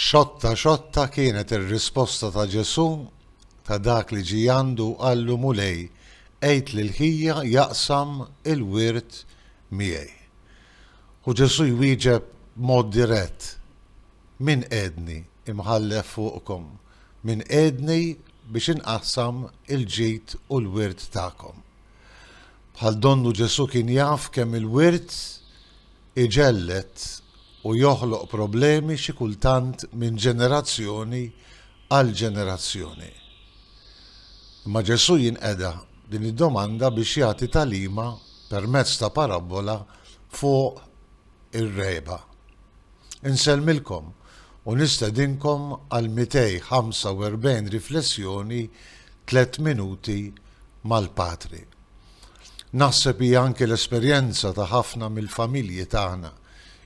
Xotta xotta kienet ir-risposta ta' Ġesù ta' dak li ġie għandu u qallu, Mulej, għid lil ħija jaqsam il-wirt miegħi. U Ġesù jwieġeb b'mod dirett, Min qiegħdni imħallef fuqkom? Min qiegħdni biex inqassam il-ġid u l-wirt tagħkom? Bħal donnu Ġesù kien jaf kemm il-wirt iġelled u joħloq problemi xi kultant minn ġenerazzjoni għal ġenerazzjoni. Imma Ġesù jinqeda din id-domanda biex jagħti tagħlima permezz ta' parabbola fuq ir-regħba. Insellmilkom u nistedinkom għal 245 riflessjoni Tliet Minuti mal-Patri. Naħseb hija anki l-esperjenza ta' ħafna mill-familji tagħna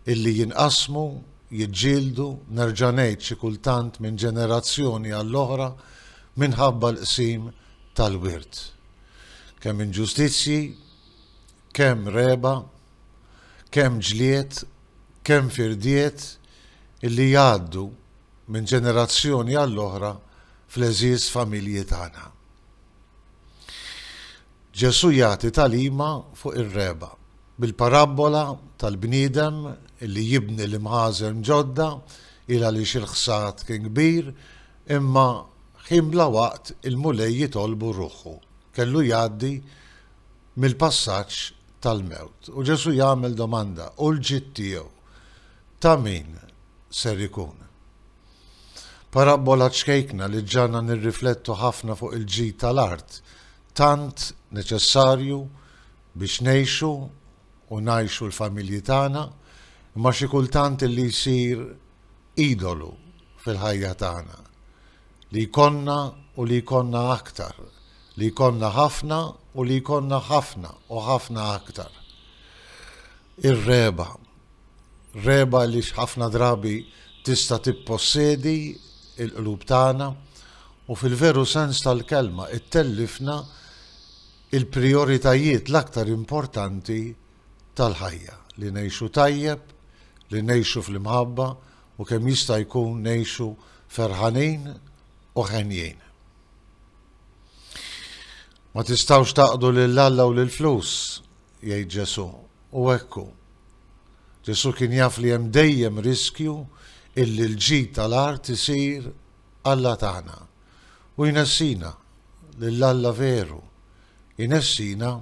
illi jinqasmu, jiġġieldu, nerġa' ngħid xi kultant minn ġenerazzjoni għall-oħra minħabba l-qsim tal-wirt. Kemm inġustizzji, kemm regħba, kemm ġlied, kemm firdiet illi jgħaddu minn ġenerazzjoni għall-oħra fl-għeżież familji tagħna. Ġesù jagħti tagħlima fuq ir-regħba, bil-parabbola tal-bniedem li jibni l-imħażen ġodda il għaliex il-ħsad kien kbir, imma ħin bla waqt il-Mulej jitolbu ruħu, kellu jgħaddi mill-passaġġ tal-mewt. U Ġesù jagħmel domanda, u l-ġid tiegħu ta' min ser ikun? Parabbola ċkejkna li ġġagħalna nirriflettu ħafna fuq il-ġid tal-art, tant neċessarju biex ngħixu u ngħixu l-familji tagħna, imma xi kultant li jsir idolu fil-ħajja tagħna. Li jkollna u li jkollna aktar, li jkollna ħafna u li jkollna ħafna u ħafna aktar. Ir-regħba, Rehba għaliex ħafna drabi tista' tippossedi l-qlub tagħna u fil-veru sens tal-kelma ttellifna l-prijoritajiet l-aktar importanti tal-ħajja, li ngħixu tajjeb, li ngħixu fl-imħabba u kemm jista' jkun ngħixu ferħanin u henjin. Ma tistgħux tgħaqqdu lil Alla u lill-flus. Jgħid Ġesù, u hekk hu. Ġesù kien jaf li hemm dejjem riskju illi l-ġid tal-art isir alla tagħna. U jnessina lil Alla veru, jnessina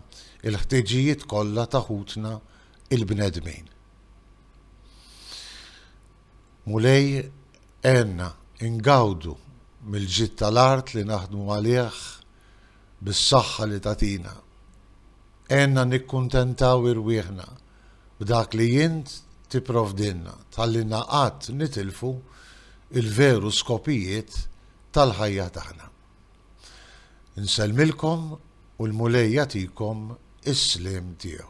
l-ħtiġijiet kollha ta' ħutna l-bnedmin. Mulej, għenna ngawdu mill-ġid tal-art li naħdmu għalih bis-saħħa li tagħtina. Għenna nikkuntentaw irwieħna b'dak li int tipprovdilna, tħallilna qatt nitilfu l-veru skopijiet tal-ħajja tagħna. Insellmilkom u l-Mulej jagħtikom is-sliem tiegħu.